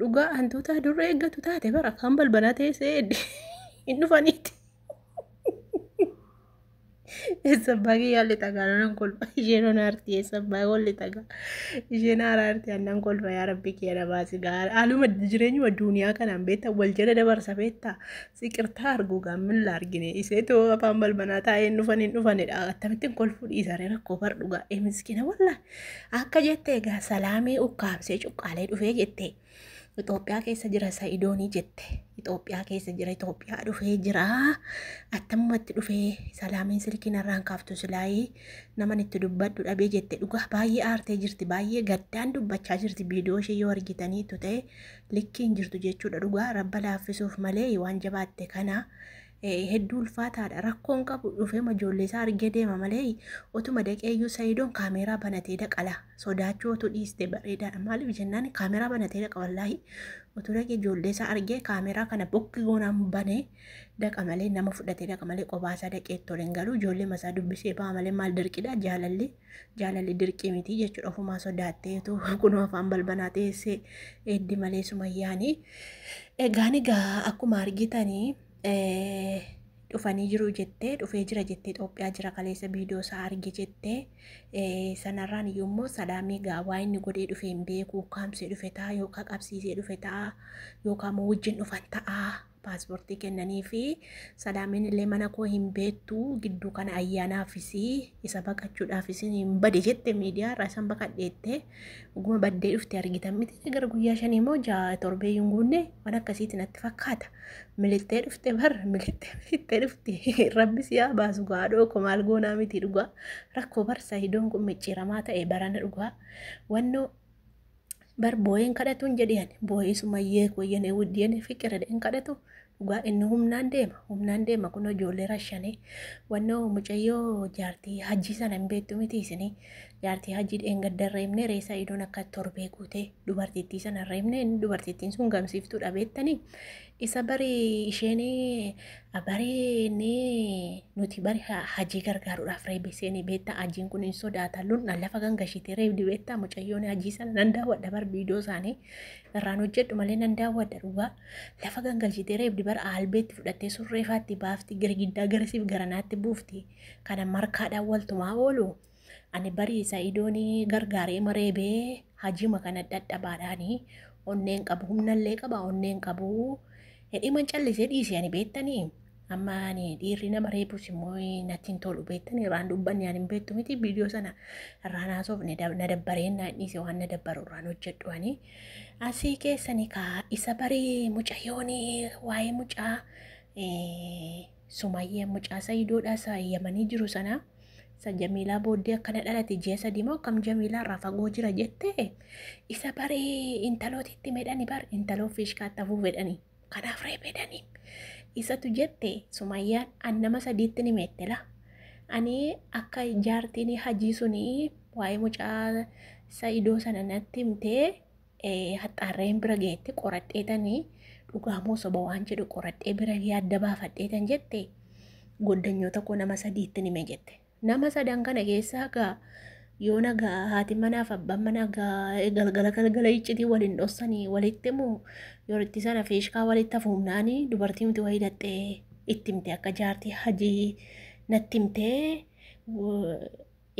Dhugaa hantuutaa durra eeggatu taate bara afaan balbalaa teessee edde hin dhufaniitti. Eessa abbaa kiyyaa lixa gaara nan kolfa isheen ona arti eessa abbaa koo lixa gaara isheen haara arti annan kolfa yaa rabbi kiyya na baasi gaara haaluma jireenyuma duuniyaa kanaan beektaa wal jala dabarsa beektaa siqirtaa arguu gaammin la argine isee too afaan balbanaa taa'ee hin dhufan hin dhufanidha akkamittiin kolfuu dhiisaree rakkoo bar dhugaa ee miskina wallaa. Akka jette egaa salaamii ukkaamsee cuqqaalee dhufee jette. Itoophiyaa keessa jira sa'idoonii jette. Itoophiyaa keessa jira Itoophiyaa dhufee jira. Attammumatti dhufee salaamiin silkii narraan kaaftu silaayii naman itti dubbadhu dhabee jette. Dhugaa baay'ee aartee jirti baay'ee gaddaan dubbachaa jirti viidiyoo ishee yoo argitanii tutee likkiin jirtu jechuudha dhugaa rabba laaffisuuf malee waan jabaatte kana hedduu ulfaataadha rakkoon qabu dhufeema ijoollee isaa argee deema malee otuma daqeeyyuu sayidoon kaameeraa banatee daqala sodaachuu otuu dhiiste bareedaadha maaliif jennaan kaameeraa banatee daqa wallaahi otuu daqee ijoollee isaa argee kaameeraa kana bokki goonaan banee daqa malee nama fudhatee daqa malee qobaasaa daqee itti ol hin galu ijoollee masaa dubbisee ba'a malee maal dirqidha jaalalli jaalalli dirqii miti jechuudha ofumaa sodaatteetu kunoo afaan balbanaa teessee eeddi malee sumayyaanii egaan egaa akkuma argitanii dhufanii jiru jettee dhufee jira jettee Itoophiyaa jira kaleessa viidiyoo isaa arge jettee sanarraan iyyuu immoo salaamii gaa waa inni godhee dhufee hin beeku kaamsee dhufe ta'a yookaan qabsiisee dhufe ta'a yookaan immoo wajjin dhufan ta'a paaspoortii kennanii fi salaamiin illee mana koo hin beektu gidduu kana ayyaanaafis isa baqachuudhaafis hin bade jette miidiyaa irraa isan baqadheette oguma baddee dhufte argitan miti gara guyyaa shanii immoo ja'a torbee hin guunne waan akkasiitti natti fakkaata milittee dhufte bar milittee milittee dhufte rabbis yaa baasu gaadhoo koo maal goonaa miti dhugaa rakkoo barsa idoon kun micciiramaa ta'e barana dhugaa wannoo bar booyeen kadhatuun jedhe ani booyee sumayyee koo yenee wud yenee fiqiredha hin kadhatu dhugaa inni humnaan deema humnaan deema kun ijoollee rashanee wannoo mucayyoo jaartii hajjii sana hin beektu miti isinii jaartii hajjii dheengadda hin reebne reessa idoon akka torbee guutee dubartittii sana hin reebne inni dubartittiin sun gamsiiftuudha beektanii Isa bari isheen bari inni nuti bari ha- hajii gargaaruudhaaf reebee seenee beektaa hajiin kun hin sodaata lundhaan lafa kan gashitee reebdi beektaa mucayyoon hajii sana nan daawwadha bar viidiyoo isaanii irraan hojjedhu malee nan daawwadha dhugaa lafa kan gashitee reebdi bar aalbeetti fudhattee surreefaatti baafti girgiddaa garasiif garanaatti buufti kana markaadhaan waltumaa oolu Ani barii sa'idoon gargaaree ma reebee hajima kana dhadhabaadhaani onneen qabu humnallee qaba onneen qabu hidhiman callisee dhiise ani beettanii amma ani dhiirri nama reebus immoo natti hin tolu beettanii irraan dubbanne ani hin beettu miti viidiyoo sana irraan haasofne na dabbareen naan dhiise waan na dabbaru irraan hojjedhu ani asii keessani kaa isa barii mucayyooni waa'ee mucaa Sumayya mucaa sayidoodhaa sa yamanii jiru sanaa sa jamiilaa booddee akkana dhalate ji'a sadii moo akkam jamiilaa irraa fagoo jira jette isa bari intalooti itti medhani bar intaloo fiishkaatti hafuu fedhani kanaaf reebedani isatu jette sumayyaan an nama sadiitti ni meettela ani akka jaartiin hajii suni waa'ee mucaa sa'idoo sana natti himtee haxxaarreen bira geette qoradheetanii dhugaa moo soba waan jedhu qoradhee bira gee adda baafadheetan jette goddanyoota koo nama sadiitti nime jette. Nama sadan kana keessaa gaa yoo nagaa haati manaaf abbaan manaa gaa galgala galgala iccitii waliin dhossanii walitti himu yoritti sana fiishkaa walitti hafuumnaanii dubartii miti wayii dhaxxee itti himte akka jaartii hajii natti himtee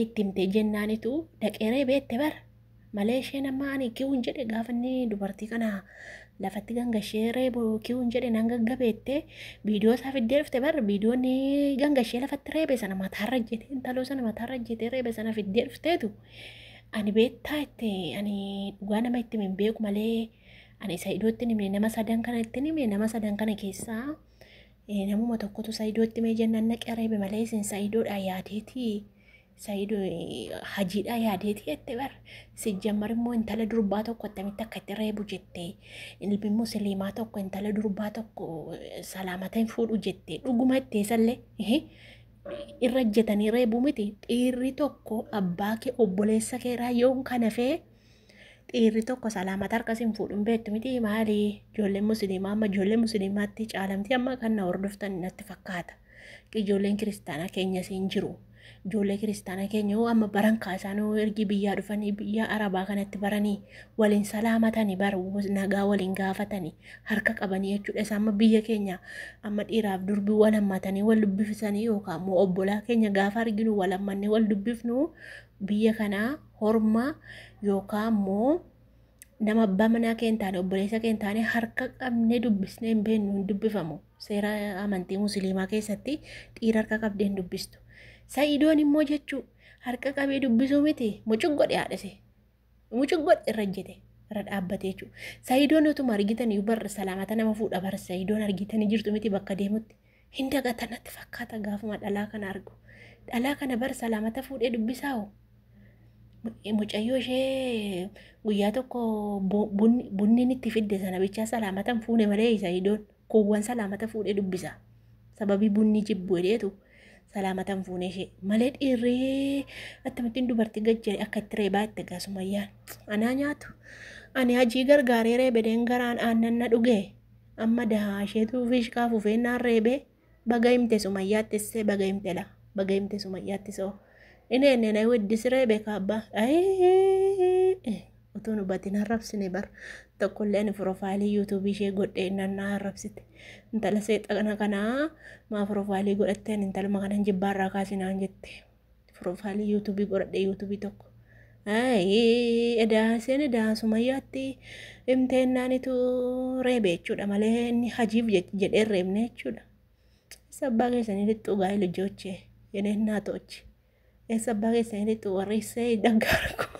itti himte jennaanitu dhaqeeree beette bar malee isheen amma ani kiwun jedhe gaafa inni dubartii kana lafatti gangashee reebu kiwun jedhe nan gaggabeette viidiyoo isaa fiddee dhufte bar viidiyoon gangashee lafatti reebe sana mataarra jete intaloo sana mataarra jetee reebe sana fiddee dhufteetu ani beettaa itti ani dhugaa nama itti hin beeku malee ani isa iddootti hime nama sadan kana itti hime nama sadan kana keessaa Namuma tokkotu Saidootti mee jennaan naqee reebe malee isin Saidoodhaa yaadeetii. Saidoo hajiidhaa yaadeetii jette bar. Sijjammar immoo intala durbaa tokko attamitti akka itti reebu jette. Ilmi musliimaa tokko intala durbaa tokko salaamata hin fuudhu jette. Dhuguma itti isallee. Irra jetanii reebuu miti. Dhiirri tokko abbaa kee obboleessa keeraa yoon kana fee Dhiirri tokko salaamata harkas hin fuudhu hin beektu miti maali ijoolleen musliimaa amma ijoollee musliimaatti caalamti amma kan na hordoftan natti fakkaata. Ijoolleen kiristaanaa keenyas hin jiru. Ijoollee kiristaanaa keenya hoo amma baran kaasaan hoo ergi biyyaa dhufanii biyya arabaa kanatti baranii waliin salaamatani bar nagaa waliin gaafatani harka qabanii jechuudha. Isa amma biyya keenya amma dhiiraaf durbi wal hammatanii wal dubbifisanii yookaan immoo obbolaa keenya gaafa arginu wal hammannee wal dubbifnu biyya kanaa horma yookaan immoo nama abbaa manaa kee hin taane obboleessa kee hin taane harka qabnee dubbisnee hin beeknu hin dubbifamu seera amantii musliimaa keessatti dhiira harka qabdee hin dubbistu sa'idoon immoo jechuu harka qabee dubbisuu miti mucuq godhe haadhise mucuq godhe irra jete irra dhaabbate jechuudha sa'idoon utuma argitan iyyuu barra salaamata nama fuudha barra sa'idoon argitanii jirtu miti bakka deemutti Hin dagata natti fakkaata gaafuma dhalaa kana argu. Dhalaa kana bar salaamata fuudhee dubbisaa hoo? Mu- Mucayyoo ishee guyyaa tokko bu- bunni bunni inni itti fidde sana bichaa salaamata hin fuune malee isa idoon kuuwwan salaamata fuudhee dubbisa. Sababii bunni jibbu jedheetu salaamata hin fuune ishee malee dhiirree akkamittiin dubartii gajjare akka itti reebaa itti egaa sumayyaan. Anaa nyaatu. Ani hajii gargaaree reebedeen garaan aannan na dhugee. Amma dahaa isheetu fiishkaa fufee naan reebee baga himte sumayyaattis see baga himte la baga himte sumayyaattis oo inni enne na weddi siree beeka abba ayii utuu nu batin harrabsine bar tokkollee ani profaayilii yuutuubii ishee godhee innan na harrabsite intala seexana kanaa maa profaayilii godhattee ani intaluma kanan jibbaarraa kaasinaan jette. Piroofaayilii yuutuubii godhadhee yuutuubii tokko. Edaa isheen edaa sumayyaatti himtee naanitu reebe jechuudha malee inni hajiif jedhee reebne jechuudha. Isa abbaa keessanii lixxuu gaa'ee lijochee jedhee naatochi. Isa abbaa keessanii lixxuu warri isee dhaggaara koo.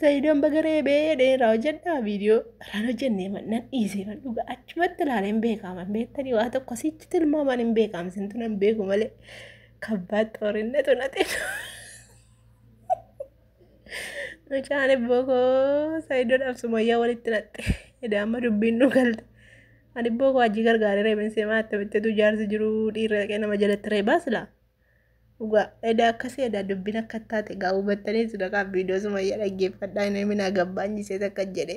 Sayidoon baga reebee dheeraa hojjedhaa viidiyoo irraan hojjennee nan dhiisee man dhugaa achumatti ilaalee hin beekaaman beektanii waa tokko sichi tilmaamaan hin beekaam sintu nan beeku malee kabbaa xoorinnetu na xeetu. Mucaan ibboo koo sayidoon absumayyaa walitti naqxe edaa amma dubbiin nu galte. Ani ibboo koo hajii gargaaree reebin seemaa attamitti utuu jaarsi jiru dhiirri dhaqee nama jalatti reebaa silaa. Dhugaa edaa akkasii edaa dubbin akka taate gaa hubattanii sudaqaa viidiyoo sumayyaa dhaggeeffadhaa hin himinaa gabbaanyiseet akka jedhe